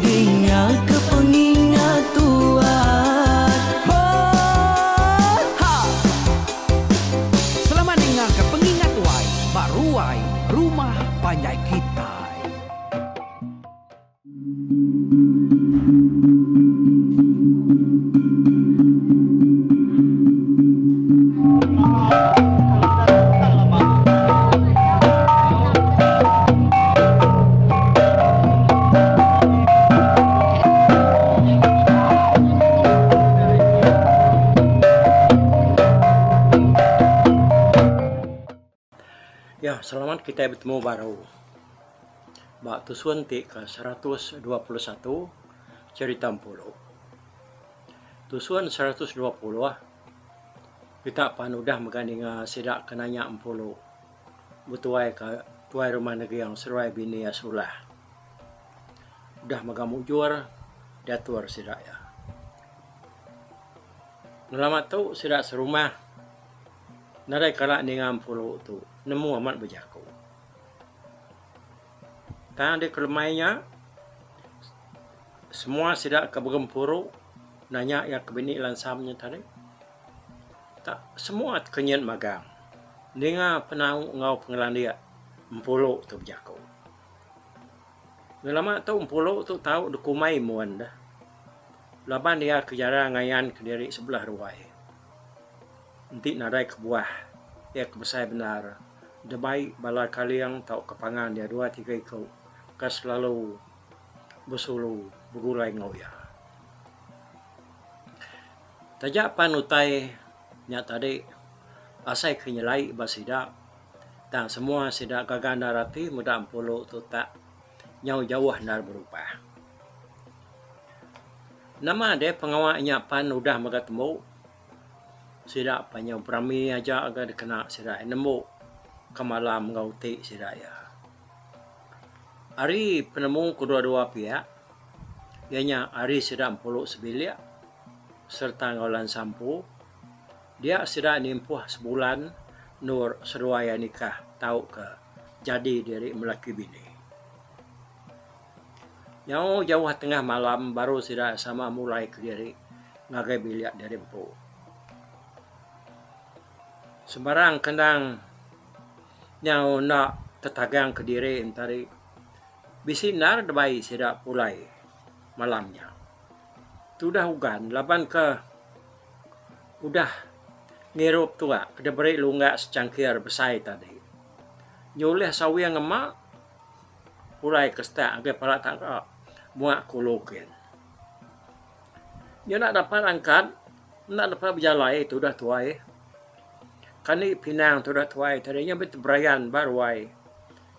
Dingaka pengingat tuat Hot Ha! Selamat dingaka pengingat tuai ba ruai rumah panjai kitai. Ya, selamat kita bertemu baru. Ba tusun ti ke seratus dua puluh satu cerita empuru. Tusun seratus dua puluh kita pan udah mega ninga sida ke nanya empuru. Betuai ka tuai rumah Neging seruai bini iya sulah. Udah mega mujur diatur sida iya. Ngelama tu sida serumah nadai kala ninga empuru tu nemu amat bejaku. Tang deka lemai nya semua sida ke begempuru nanya iya ke bini lansam nya tadi. Ka semua ti ke nyin magang ninga penau enggau pengelandik Empulu tu bejaku. Ngelama tu Empulu tu tau dikumbai mun deh laban iya ke jarang ngayanka diri sebelah ruai enti nadai kebuah iya ke besai bendar debai bala kaling tauka pangan iya dua tiga iku ke selalu besulu begulai enggau iya. Taja pan utai nya tadi asai ke nyelai ba sida tang semua sida gaga endar ati meda Empulu tu tak nyau jauh endar berubah. Nama deh pengawa nya pan udah mega tembu sida pan nyau berami aja ga dikena sida nembu ke malam enggau uti sida iya. Ari penemu kedua dua piak iya nya ari sida Empulu sebilik sereta enggau lan sampu dia sida nimpuh sebulan endur seduai iya nikah tauka jadi diri melaki bini. Nyau jauh tengah malam baru sida sama mulai kediri ngagai bilik diri empu. Sembarang kendang nyau enda tetagang kediri enti hari bisi endar deba sida pulai malam nya. Tudah Ugan laban ke udah ngirup tua ke diberi lungga secangkir besai tadi. Nyulih sawi ngema pulai ke setak ngagai pala tangga muak kulu kin. Nyau enda dapat angkat, enda dapat bejalai tudah tuai. Kani pinang tudah tuai tadi nya meh ti berayan ba ruai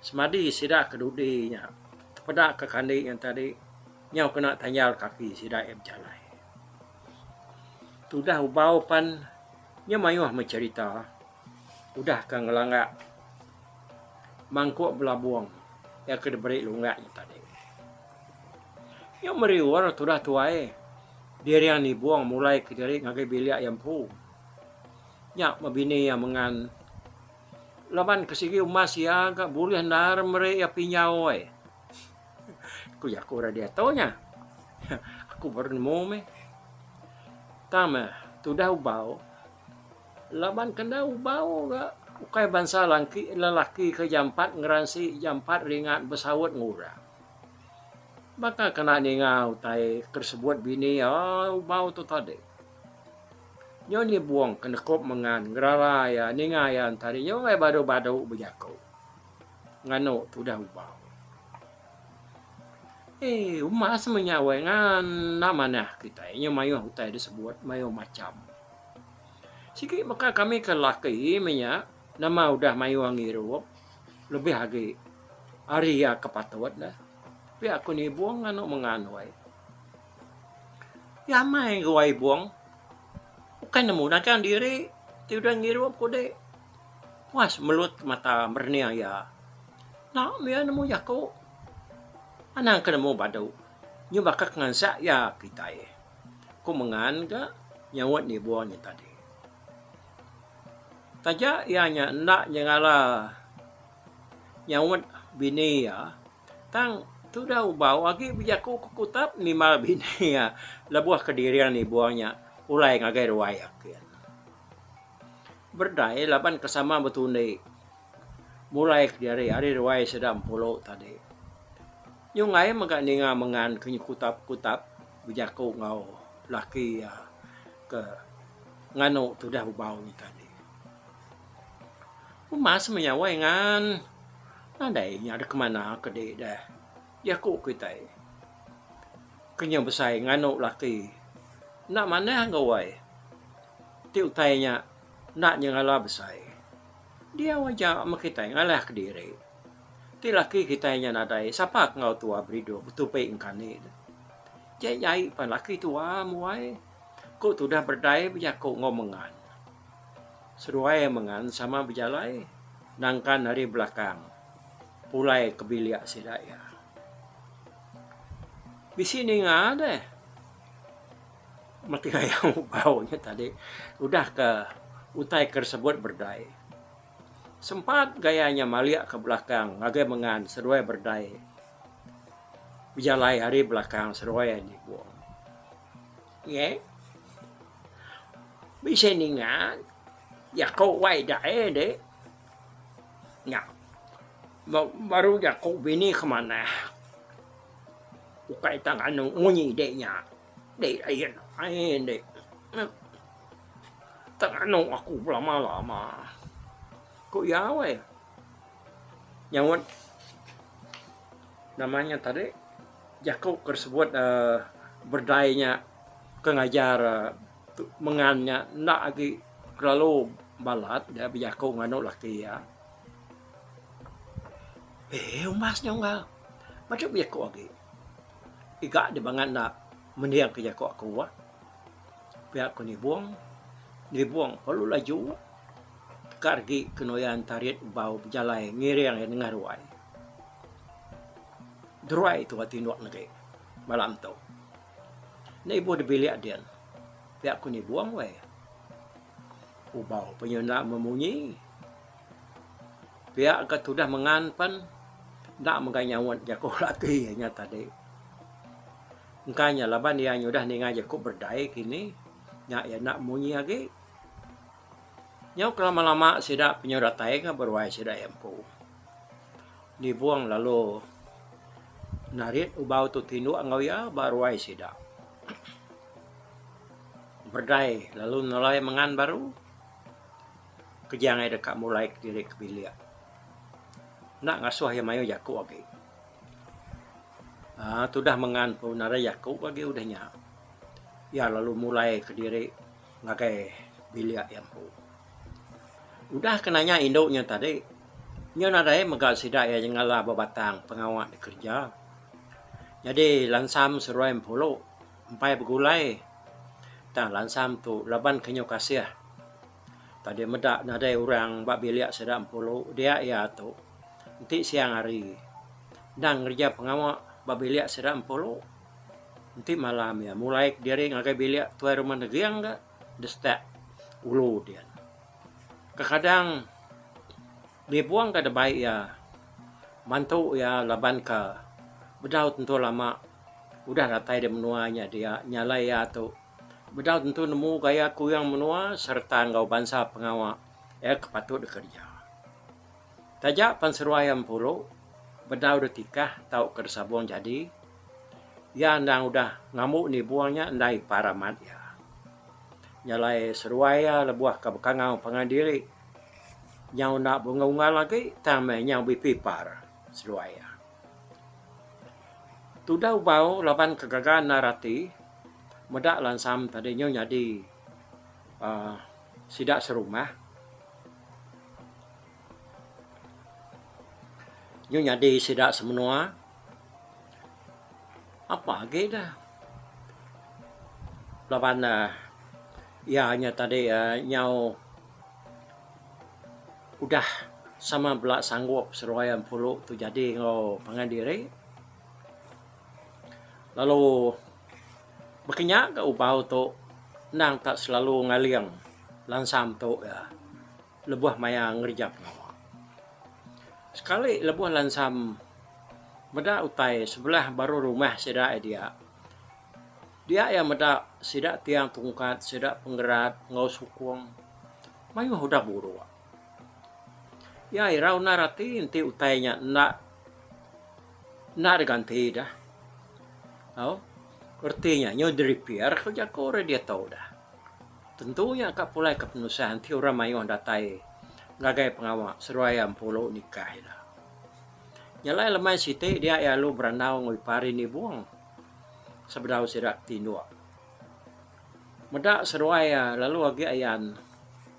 semadi sida ke dudi nya tepeda ke kani nya tadi. Nyau kena tayar kaki sida iya bejalai. Tudah ubau pan nya mayuh meh cherita udah ka ngelanggak mangkuk belabung iya ke diberi lunggak nya tadi. Nya meri orang tudah tuai dirian nibung mulai ke diri ngagai bilik iya empu. Nya meh bini iya mengan laban ke sigi umas iya ga bulih endar meri iya pinjau ai. Ku jaku orang diatu nya. Aku baru nemu meh. Tang meh, tudah ubau. Laban kena ubau ga ukai bansa langki, lelaki ke jampat ngeransi, jampat ringat besaut enggau orang. Baka kena ninga utai ke disebut bini ai ubau tu tadi. Nyo nyebong ke nekup mengan ngerara iya, ninga iya ntadi nyo angai badu-badu bejaku. Nganu tudah ubau. Eh, uma sama nya weh ngana manah kitai nya mayuh utai disebut mayuh macham. Sigi baka kami ke laki meh nya nama udah mayuh ngirup lebih agi ari iya ke patut ne. Pia aku nibung nganu mengan weh. Nyamai enggau wai ibung. Bukai ne mudah kan diri ti udah ngirup ku deh. Puas melut mata merening iya. Enda meh iya nemu jaku. Anang ke nemu badu. Nyu baka ke ngansat iya kitai. Ku Mengan ga nyaut nibung nya tadi. Taja iya nya enda nyengala nyaut bini iya tang tudah ubau agi bejaku ke kutap nimbal bini iya lebuh ke diring nibung nya ulai ngagai ruai ake. Berdai laban ke sama betundi mulai ke diri ari ruai sida Empulu tadi. Nyungay mega ninga mengan ke nyekutap-kutap bejaku enggau laki iya ke nganu tudah bebau nya tadi. Uma semenyawai ngan nadai inya deka manah ke di deh jaku kitai ke nyau besai nganu laki enda manah enggau uai. Ti utai nya enda nyengala besai. Diau aja meh kitai ngalah kediri. Ti laki kitai nya nadai sapa ke enggau tua beridup betupi engkani ne. Jai jai pan laki tua muai ku tudah berdai bejaku enggau mengan. Seduai mengan sama bejalai nangkan ari belakang pulai ke bilik sida iya. Bisi ninga deh. Mati raya Ugau nya tadi udah ke utai ke disebut berdai. Sempat gaya nya malik ke belakang ngagai mengan seduai berdai bejalai ari belakang seduai nyebung. Ye. Bisi ninga jaku wai daye ende nya baru jaku bini ke manah ukai tang anung munyi de nya. Dek air air dek. Tak nganu aku belama-lama. Ku iya weh. Nyaut nama nya tadi jaku ke sebut uh, berdai nya ke ngajar uh, mengan nya enda agi kelalu balat dia bejaku nganu laki iya. Eh umbas nya enggau. Baca bejaku agi. Iga deh bangat enda mending ke jaku aku bah. Pia ku Nibong, Nibong perlu laju teka regi kenuyan Tarit bau bejalai ngiring iya nengah ruai. Deruai tu ati ndok negi malam tu. Enda ibuh di bilik din. Pia ku Nibong weh. Ubau pe inya enda memunyi. Pia ke tudah mengan pen enda mega nyaut jaku ati inya tadi. Engka nya laban iya nyudah ninga jaku berdai kini nya iya enda munyi agi. Nyau ke lama lama sida penyau datai ke beruai sida iya empu. Nibong lalu narit ubau tu tinduk enggau iya ba ruai sida. Berdai lalu nelai mengan baru. Keja angai deka mulai kediri ke bilik. Enda ngasuh iya mayuh jaku agi. Aa tudah mengan pun nadai jaku agi udah nya. Iya lalu mulai kediri ngagai bilik iya empu. Udah ke nanya indu nya tadi, nya nadai mega sida iya nyengala ba batang pengawa dek kereja. Nyadi lansam seruai empulu empai begulai tang lansam tu laban ke nyu kasih. Tadi meda nadai orang ba bilik sida Empulu dia iya tu. Enti siang hari endang ngereja pengawa ba bilik sida Empulu enti malam iya mulai kediri ngagai bilik tuai rumah Neging ga distep ulu dia. Kekadang nipung ga debai iya mantu iya laban ka bedau tentu lama udah datai di menua nya dia nyalai iya tu. Bedau tentu nemu gaya ke orang menua sereta enggau bansa pengawa iya ke patut dikereja. Taja pan seruai empuru bedau detikah tauka desabung jadi, iya endang udah ngambu nibung nya enda ipar amat iya. Nya alai seruai iya lebuh ke bekangau pangan diri nyau enda beunggal-unggal agi tang meh nyau bisi par seruai iya. Tudah ubau laban ke gaga endar ati. Meda lansam tadi nyu nyadi aaa sida serumah nyu nyadi sida semenua apa agi da laban aaa iya nya tadi aaa nyau udah sama bela sanggup seruai empuru tu jadi enggau pangan diri. lalu baka nya ga ubau tu endang ka selalu ngaling lansang tu ga lebuh maya ngereja pengawa. Sekali lebuh lansam meda utai sebelah baru rumah sida aja dia, dia iya meda sida tiang tungkat sida pengerat enggau sukung mayuh udah buruk. Iya irau endar ati enti utai nya enda enda diganti dah tau reti nya nyu di repair ku jaku orang diatu dah. Tentu nya ka pulai ka penusah enti orang mayuh datai ngagai pengawa seduai iya empulu nikah ida. Nya alai lemai siti dia iya alu berandau enggau ipar indi buong sebedau sida ti indu meda seduai iya lalu agi ayan.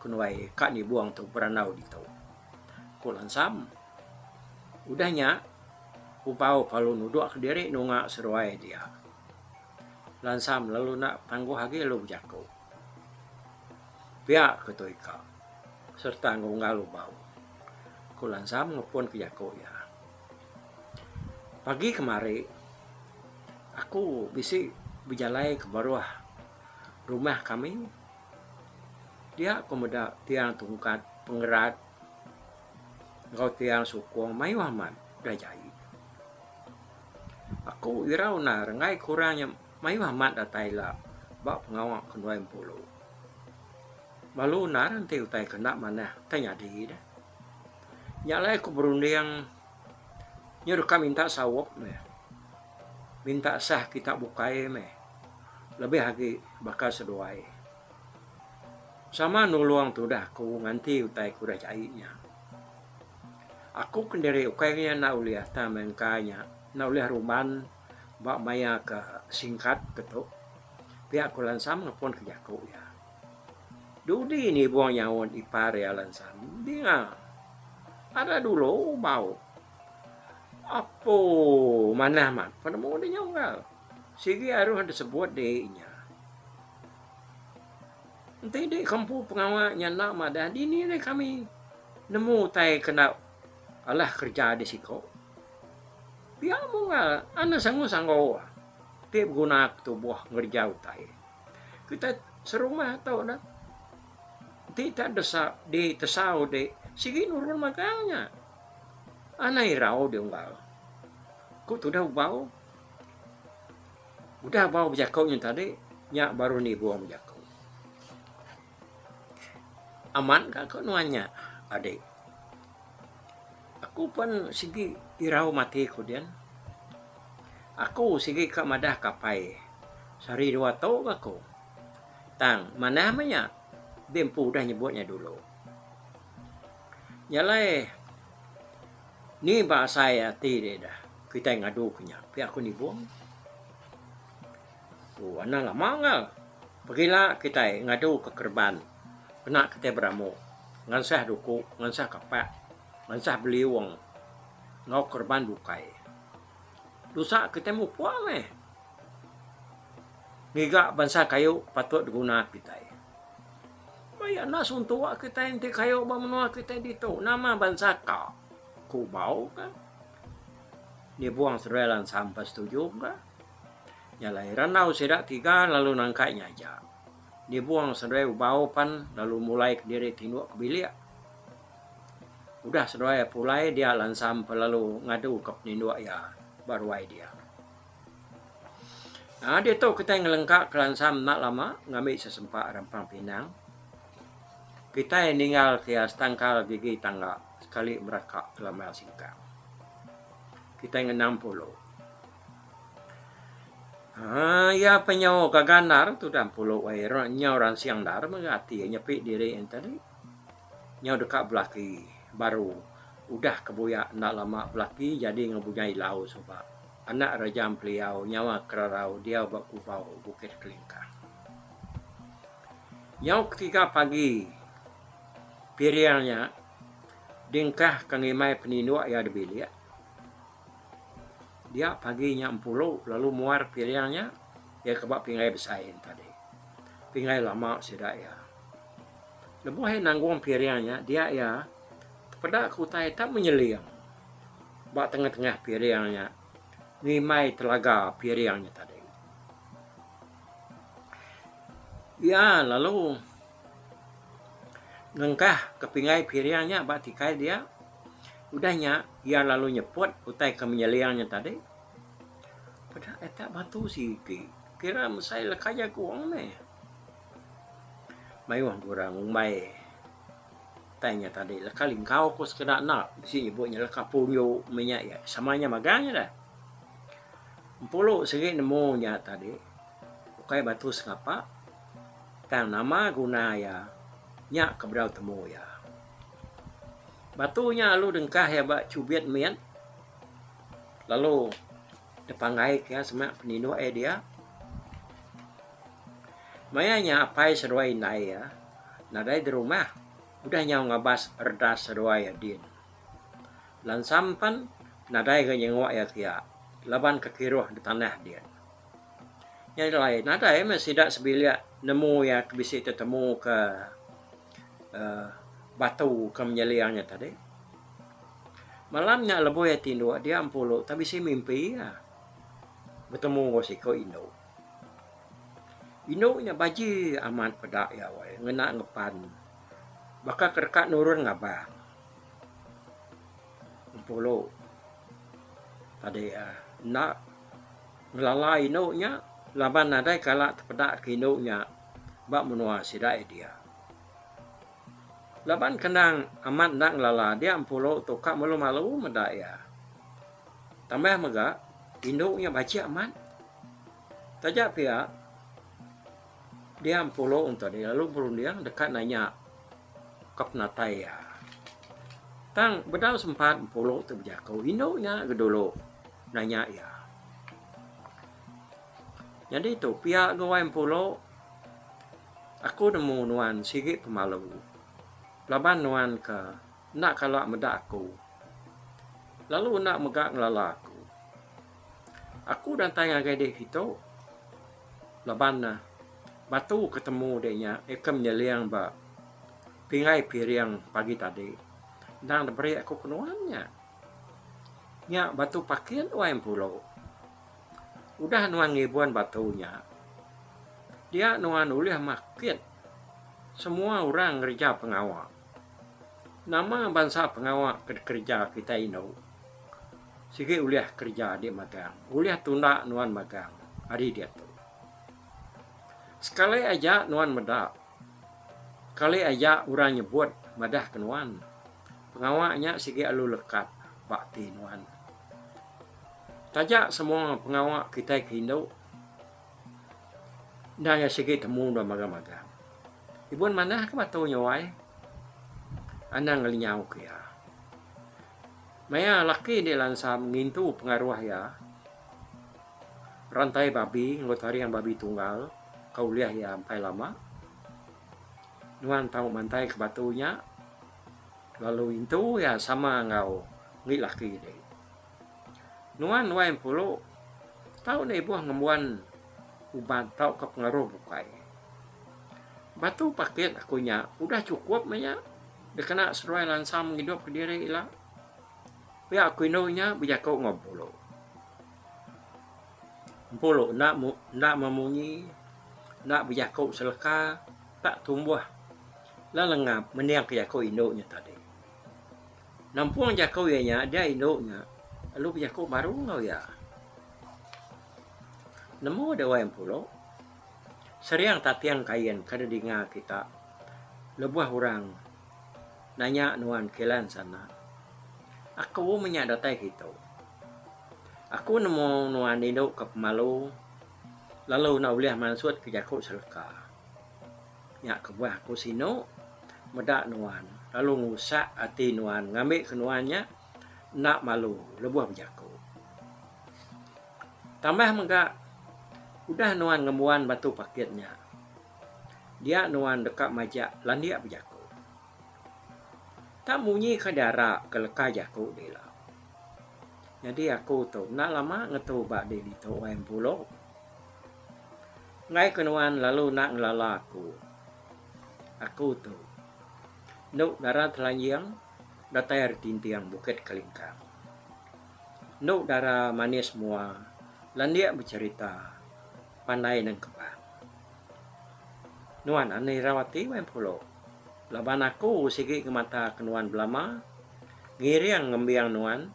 Kenuai ka ni buang tu berandau ditu. Ku Lansam. Udah nya, Upau kalu nudukka diri nunga seruai dia. Lansam lalu enda betangguh agi lalu bejaku. Pia ke tu ika. Sereta enggau unggal Ubau. Ku Lansam ngepunka jaku iya. Pagi kemari, aku bisi bejalai ke baruh rumah kami. Dia ku meda tiang tungkat pengerat enggau tiang sukung mayuh amat da jaie. Aku irau enda renggai ku orang nya mayuh amat datai ila ba pengawa ke Nuai Empulu. Lalu enda renti utai ke enda manah ke nyadi ne. Nya alai aku berunding nya deka minta saup meh. Minta sah kita bukai meh. lebih agi baka seduai sama nulung tudah aku nganti utai aku dah jai nya. Aku kendiri ukai inya enda ulih tang meh engka inya enda ulih ruman ba maya ke singkat ke tu pia aku lansam ngepun ke jaku iya. Dudi nibung nyaut ipar iya lansam dinga ada dulu bau apu manah mat penemu deh nyunggal. Sigi aruh enda sebut diri inya. Enti diri ke empu pengawa inya enda madah, dini deh kami nemu utai ke enda alah kereja di siko. Pia munggal anas angus anggo ti beguna ke tubuh ngereja utai. Kitai serumah tu neh enti tak desa diri tesau di sigi nurun magang inya. Anai irau di unggal, ku tudah Ubau. Udah bau bejaku nya tadi, nya baru nibung bejaku. Amat ka aku nuan nya, adik. Aku pen sigi irau mati ku dian. Aku sigi ka madah kapai sehari dua tu bah ku. Tang manah meh nya di empu udah nyebut nya dulu. Nya alai. Ni ba asai ati dek dah kitai ngadu ke nya pia ku Nibong. Tu anang lama enggau pegila kitai ngadu ke kereban pena kitai beramu ngansah duku ngansah kapak ngansah beliung enggau kereban bukai. Tusa kitai mupuk meh ngiga bansa kayu patut diguna kitai. Maya enda suntuk kitai enti kayu ba menua kitai ditu nama bansa ka kubau ka dibuang seduai lansang pa setuju ka nya alai randau sida tiga lalu nangkai nya aja dibuang seduai ubau pan lalu mulai kediri tinduk ke bilik udah seduai pulai dia lansang pa lalu ngadu ka peninduk iya ba ruai dia. Nah ditu kitai ngelengka kelansang enda lama ngambi sesempa rempang pinang kitai ninggal ke iya setangkal gigi tangga sekali meraka ke lambang singkang. Kitai ngenang pulu. Aaa iya penyau gaga endar tudan pulu ai nyau ransing endar mega ati iya nyepi diri ayen tadi nyau deka belaki baru udah ke buyak enda lama belaki jadi ngebunyai ilau suba. Anak Raja Ampeliau nyawa kerarau diau ba Kubau, Bukit Kelingkang. Nyau ketiga pagi piring nya diengkah ke ngimai peninduk iya dibilik. Dia pagi nya Empulu lalu muar piring nya iya ke ba Pingai Besai enti tadi. Pingai lama sida iya. Lebuh iya nanggung piring nya dia iya tepeda ke utai tak menyeling. Ba tengah-tengah piring nya ngimai telaga piring nya tadi. Iya lalu ngengkah ke pinggai piring nya ba tikai dia. Udah nya iya lalu nyeput utai ke menyeling nya tadi. Peda ai tak batu siti. Kira mesai leka jaku meh. Mayuh gurang umbai. Utai nya tadi leka lingkau ko sekeda enda bisi nyebut nya leka punju meh nya iya sama nya magang nya dah. Empulu segi nemu nya tadi ukai batu sengapa tang nama guna iya nya ke bedau temu iya. Batu nya lalu dengkah iya ba chubit mit lalu. Depanggai ke semak peninduk iya dia. Maya nya apai seduai indai iya nadai dirumah udah nyau ngabas redas seduai iya din. Lansam pen nadai ga nyenguk iya kia laban ke kiruh betanah din. Nyadi alai nadai meh sida sebilik nemu iya ke bisi tetemu ke. uh, batu ke menyeling nya tadi. Malam nya leboi ati indu dia empulu tapi si mimpi ya. Bertemu go siko indu. Indu nya baji amat peda ya wai ngena ngepan. Baka kereka nurun ngabang. Empulu. Tadi ya. Uh, nak ngelala indu nya laban nadai kala tepeda ke indu nya ba menua sida iya dia. Laban kenang amat enda ngelala dia empulu tu ka malu-malu meda iya. Tambah mega, indu nya bajik amat. Taja pia, dia empulu ento dia lalu berunding deka nanya ka penatai iya. Tang bedau sempat empulu tu bejaku, indu nya dulu nanya iya. Nyadi tu pia gawai empulo aku nemu nuan sigi pemalu laban nuan ka enda kala meda aku lalu enda mega ngelala aku. Aku datai ngagai dek kitu laban ne batu ke temu dek nya ikem nyeling ba pingai piring pagi tadi endang ne beri aku ke nuan nya. Nya batu pakin gawai empulo. Udah nuan ngibun batu nya, dia nuan ulih makit semua orang ngereja pengawa. Nama bansa pengawa ke dikereja kitai indu sigi ulih kereja adi magang, ulih tunda nuan magang ari diatu. Sekali aja nuan meda, sekali aja orang nyebut madahka nuan, pengawa nya sigi alu lekat ba ati nuan. Taja semua pengawa kitai ke indu enda iya sigi temu dua magang-magang. Ibun manah ke batu nya wai anang ngelinyau ke iya. Maya laki indi lansam ngintu pengaruh iya rantai babi enggau taring babi tunggal ke ulih iya empai lama nuan tau mantai ke batu nya. Lalu intu iya sama enggau indi laki ne, Nuan wai empuru, tau ne ibuh ngembuan uban tauka pengaruh bukai. Batu pakit aku nya udah chukup meh nya dikena seduai lansang ngidup ka diri ila. Pia ku indu nya bejaku enggau empuru. Empuru enda enda memunyi, enda bejaku seleka, tak tumbuh La Lengap meningka jaku indu nya tadi. Nampung jaku iya nya dia indu nya lalu bejaku baru enggau iya. Nemu Dewan Empuru, Seriang Tating Kain ke didinga kita lebuh orang nanya nuan kilan sana. Aku mih nya datai kitu. Aku nemu nuan indu ke pemalu lalu enda ulih mansutka jaku seleka. Nya kebuah aku sinu meda nuan lalu ngusak ati nuan ngambika nuan nya enda malu lebuh bejaku. Tambah mega udah nuan ngembuan batu pakit nya dia nuan deka majak landik bejaku. Enda munyi ka dara ke leka jaku dila. Nyadi aku tu enda lama ngetu ba dek ditu wai Empulu. Enggai ke nuan lalu nak ngelala aku. Aku tu. Enu dara telanjing datai ari tinting Bukit Kelingkang. Enu dara manis mua landik becerita pandai nengkebang. Nuan anu irau ati wai empulu laban aku sigi ngemata ke nuan belama ngiring ngembing nuan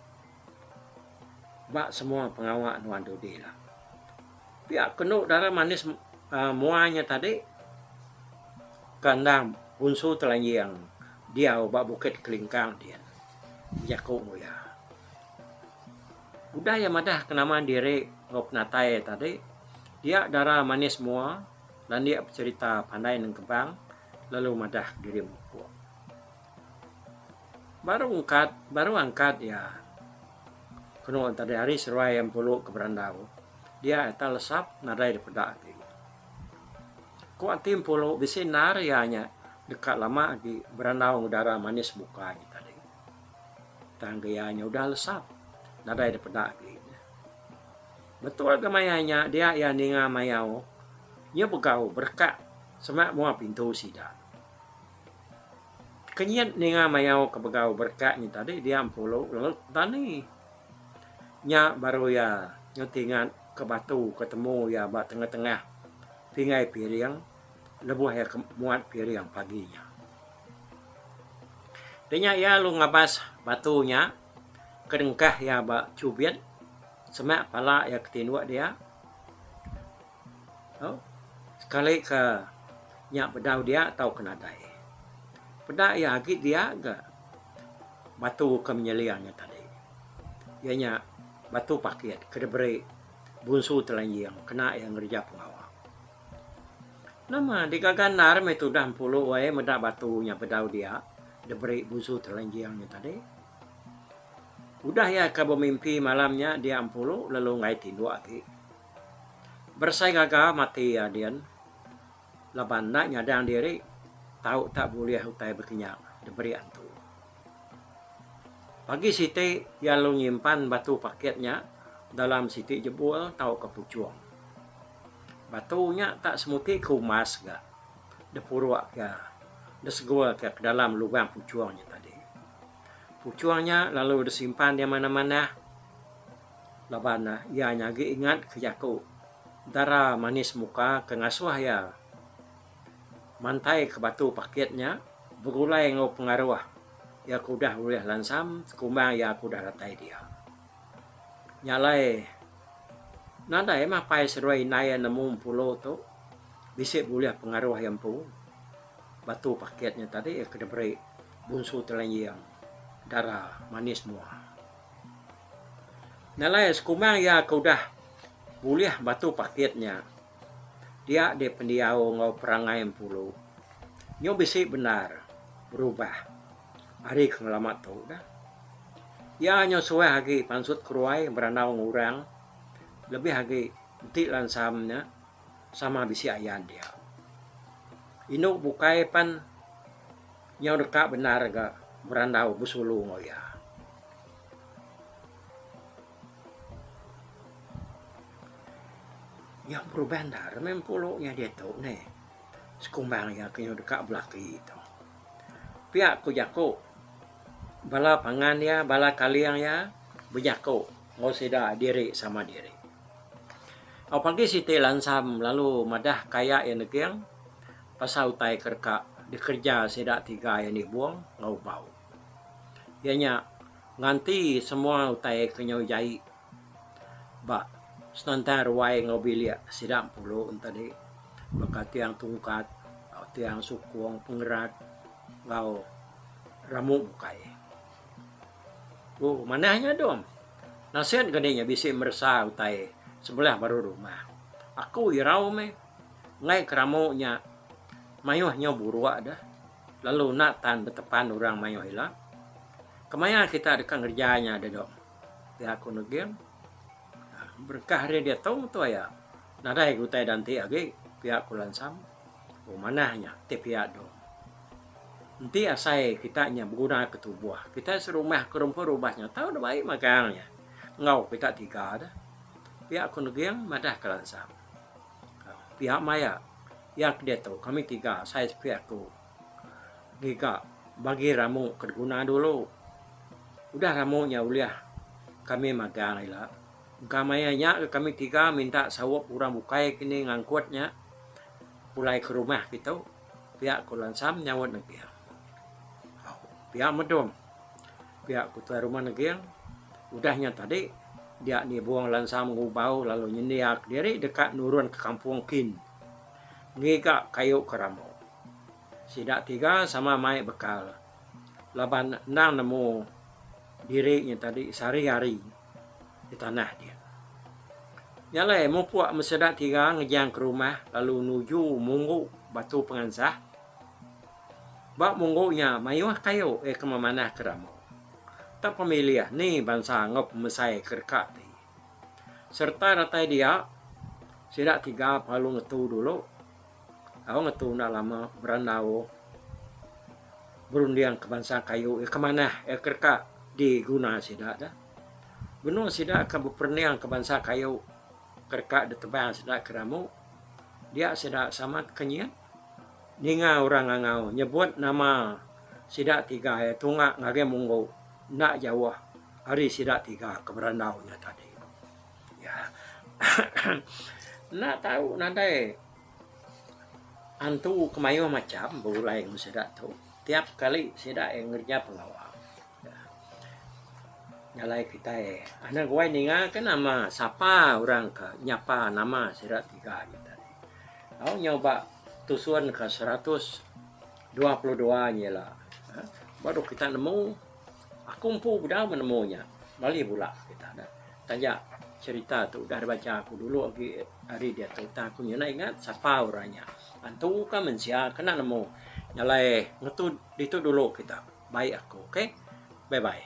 ba semua pengawa nuan dudi lah. Pia kenu udara manis mua nya tadi ke enda punsu telanjing diau ba Bukit Kelingkang din jaku ku iya. Udah iya madah ke nama diri enggau penatai iya tadi dia udara manis mua landik becerita pandai nengkebang lalu madah diri mupuk. Baru angkat, baru angkat iya. Kenu tadi hari seruai iya empulu ke beranda ku. Dia ita lesap nadai dipeda ati. Ku ati empulu bisi endar iya nya deka lama agi berandau enggau udara manis bukai nya tadi. Tang ke iya nya udah lesap nadai dipeda ati nya. Betul ke maya nya dia iya ninga mayau, nya begau berekak sema mua pintu sida. Kenyit ninga mayau ke begau berekat nyi tadi dia empulu lalu petani. Nya baru iya ngetingat ke batu ke temu iya ba tengah-tengah pingai piring lebuh iya ke muat piring pagi nya. Deh nya iya lalu ngabas batu nya ke dengkah iya ba chubit semak pala iya ke tinduk dia Sekali ke nya bedau dia tau ke nadai. Peda iya agi dia ga batu ke menyelia nya tadi iya nya batu pakit ke diberi Bunsu Telanjing kena iya ngereja pengawa. Nama digaga endar meh tudah empulu ai meda batu nya bedau dia diberi Bunsu Telanjing nya tadi. Udah iya ke bemimpi malam nya dia empulu lalu enggai tinduk agi. Beresai ngaga mati iya din laban enda nyadang diri tau tak bulih utai bekinya diberi antu. Pagi siti iya lalu nyimpan batu pakit nya dalam siti jebul tauka puchung. Batu nya tak semuti ke umas ga dipuruk iya disegul ke dalam lubang puchung nya tadi. Puchung nya lalu disimpan iya manah-manah. Laban ne, iya nyagi ingat ke jaku dara manis muka ke ngasuh iya mantaika batu pakit nya begulai enggau pengaruh iya ke udah ulih lansam sekumbang iya ke udah datai dia. Nya alai, nadai mah pai seduai indai iya nemu mpulo tu bisi bulih pengaruh iya empu. Batu pakit nya tadi ke diberi Bunsu Telenjing dara manis muka. Nalai sekumang iya ke udah bulih batu pakit nya dia deh pendiau enggau perangai empuru nyu bisi bendar berubah ari ke ngelama tu dah. Iya nyu suah agi pansut keruai berandau enggau orang lebih agi enti lansam nya sama bisi ayan dia. Indu bukai pan nyau deka bendar ga berandau besulu enggau iya. Iya berubah enda re meh empu lu nya ditu neh sekumbang iya ke nyau deka belaki tu. Pia ku jaku bala pangan iya bala kaling iya bejaku enggau sida diri sama diri. Au pagi siti lansa lalu madah kaya iya neging pasal utai ke deka dikereja sida tiga iya nibung enggau bau. Iya nya nganti semua utai ke nyau jai ba senentang ruai enggau bilik sida pulu tadi baka tiang tungkat, tiang sukung, pengerat enggau rambu bukai. Ku manah nya dom naseng ke dih nya bisi meresa utai sebelah baru rumah. Aku irau meh ngai ke rambu nya mayuh nyau buruk deh. Lalu enda tan betepan orang mayuh ila. Kemaya kita deka ngereja nya diatu? Pia aku neging. Berengkah ari diatu tu aya nadai ke utai danti agi, pia ku Lansam. Oh manah nya ti pia dong. Enti asai kita nya begunaka tubuh kita serumah ke rumpun rubah nya tau dep ai magang nya enggau kita tiga deh, pia ku neging madah ke Lansam. Pia maya. Iya ke diatu kami tiga asai sepi aku ngiga bagi ramu ke diguna dulu. Udah ramu nya ulih kami magang ila. Engka maya nya ke kami tiga minta saup orang bukai ke ni ngangkut nya pulai ke rumah ke tu pia ku Lansam nyaut Neging. Pia Medom pia ku Tuai Rumah Neging udah nya tadi dia nibung Lansam Ngubau lalu nyendia ke diri deka nurun ke Kampung Kin. ngiga kayu ke rambu. Sida tiga sama mai bekal laban endang nemu diri nya tadi sehari hari di tanah dia. Nya alai mupuk meh sida tiga ngejang ke rumah lalu nuju munggu batu pengansah. Ba munggu nya mayuh kayu iya ke memanah ke rambu. Tepemilih ni bansa enggau pemesai ke deka ti. Sereta datai dia, sida tiga belalu ngetu dulu. Tau ngetu enda lama berandau berunding ke bansa kayu iya ke manah iya ke deka diguna sida dah. Benung sida ke beperunding ke bansa kayu ke deka ditebang sida ke damu, dia sida samat ke nyin. Ninga orang ngangau nyebut nama sida tiga iya tunga ngagai munggu. Enda jauh ari sida tiga ke berandau nya tadi. Iya. Enda tau nadai antu ke mayuh macham begulai enggau sida tu. Tiap kali sida iya ngereja pengawa. Jalai kitai anu guai ninga ke nama sapa orang ke nyapa nama sida tiga nya tadi. Tau nyau ba tusun ke seratus. Dua puluh dua nya ila. Baru kita nemu. Aku empu udah menemu nya. Malih bula kita dah. Taja cerita tu udah dibacha aku dulu agi hari diatu. Tang aku nyudah ingat sapa orang nya. Antu ka mensia ke enda nemu. Nyalai ngetu ditu dulu kita. Baik aku. Okay. Bye bye.